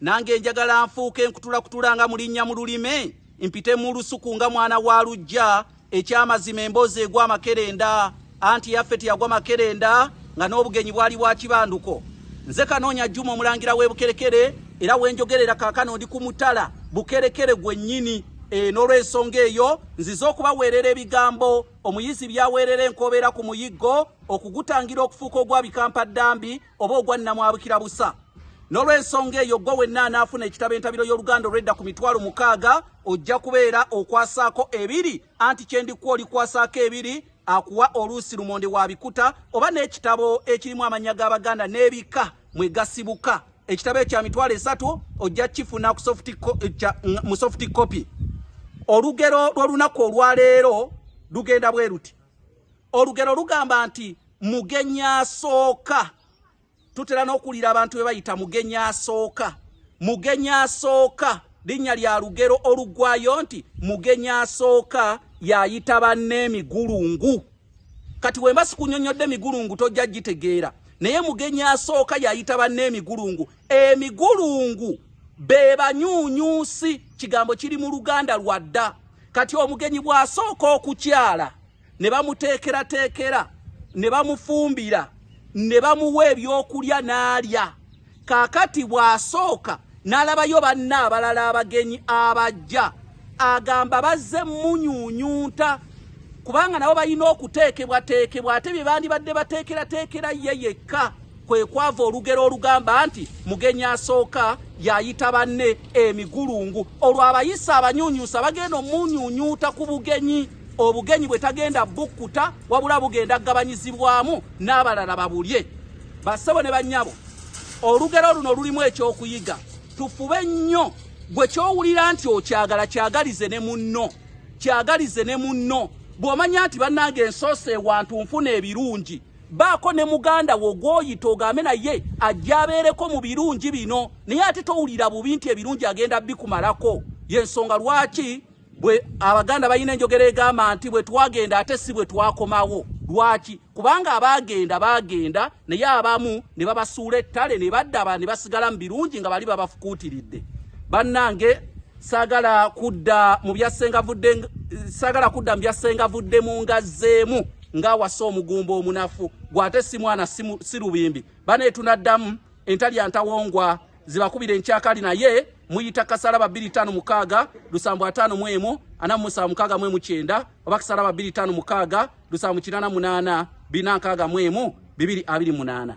Nange njagala nfuuke nkutulakutula nga mulinnya mu lulime mpite mu lusuku nga mwana wa lujja ekyamazima emboozi egwa amakerenda anti yaffe teyagwa makerenda nga n'obugenyi bwali bwa kibanduko nze kanoonya juma omulangira w'ebukerekere era wenjogerera kaakano ndi ku mutala bukerekere gwennyini e, n'olwensonga eyo nzize okubaweerera ebigambo omuyizi byaweerera enkobeera ku muyiggo okugutangira okufuuka ogwabikampaddambi oba ogwa nnamwabukira busa n'olw'ensonga eyo gwe wenna anaafuna ekitabo entabiro y'oluganda olwedda ku mitwalo mukaaga ojja kubeera okwasaako ebiri anti kye ndikuwa olikwasaako ebiri akuwa oluusi lumonde wa bikuta oba n'ekitabo ekirimu amannya g'abaganda n'ebika mwe gasibuka ekitabo ekya mitwalo esatu ojja kifuna mu sofuti kopi olugero lw'olunaku olwaleero lugenda bwe luti olugero lugamba nti mugenyi asooka tutera n'okuwulira abantu be bayita mugenyi asooka mugenyi asooka linnya lya lugero oluggwayo nti mugenyi asooka yayita banne emigulungu kati wemba sikunyonyodde emigulungu tojja gitegeera naye mugenyi asooka yayita banne emigulungu emigulungu be banyuunyuusi kigambo kiri mu luganda lwadda kati omugenyi bw'asooka okukyala ne bamuteekerateekera ne bamufumbira ne bamuwa ebyokulya n'alya kaakati bw'asooka n'alabayo banna abalala abagenyi abajja agamba bazze munyunyunta kubanga nabo balina okuteekebwateekebwa ate bye bandibadde bateekerateekera ye yekka kwe kwava olugero olugamba nti mugenyi asooka yayita banne emigulungu olwo abayisa abanyunyusa bagenda omunyunyuuta ku bugenyi obugenyi bwe tagenda bukkuta wabula bugenda kugabanyizibwamu n'abalala babulye bassebo ne bannyabo olugero luno lulimu ekyokuyiga tufube nnyo gwe kyowulira nti okyagala kyagalize ne munno kyagalize ne munno bw'omanya nti bannange ensoosa ewantu nfuna ebirungi baako ne muganda wo gwoyita ogambe naye ajja abeereko mu birungi bino naye ate towulira bubi nti ebirungi agenda bikumalako yensonga lwaki bwe abaganda balina enjogera egamba nti bwe twagenda ate si bwe twakomawo lwaki kubanga abaagenda baagenda naye abamu ne babasuula ettale ne baddaba ne basigala mu birungi nga bali babafukuutiridde bannange Sagala kudda mu bya senga vudde sagala kudda mu bya senga vudde mu ngazeemu nga wasa omugumba omunafu gwate si mwana si lubimbi bane tunaddamu entali antawongwa zibakubira enkyakali naye muyita kasala babiri tano mukaga lusambo atano mwemu ana musa mukaga mwemu kyenda oba kasala babiri tano mukaga lusambo kinana munana bina kaga mwemu bibiri abiri munana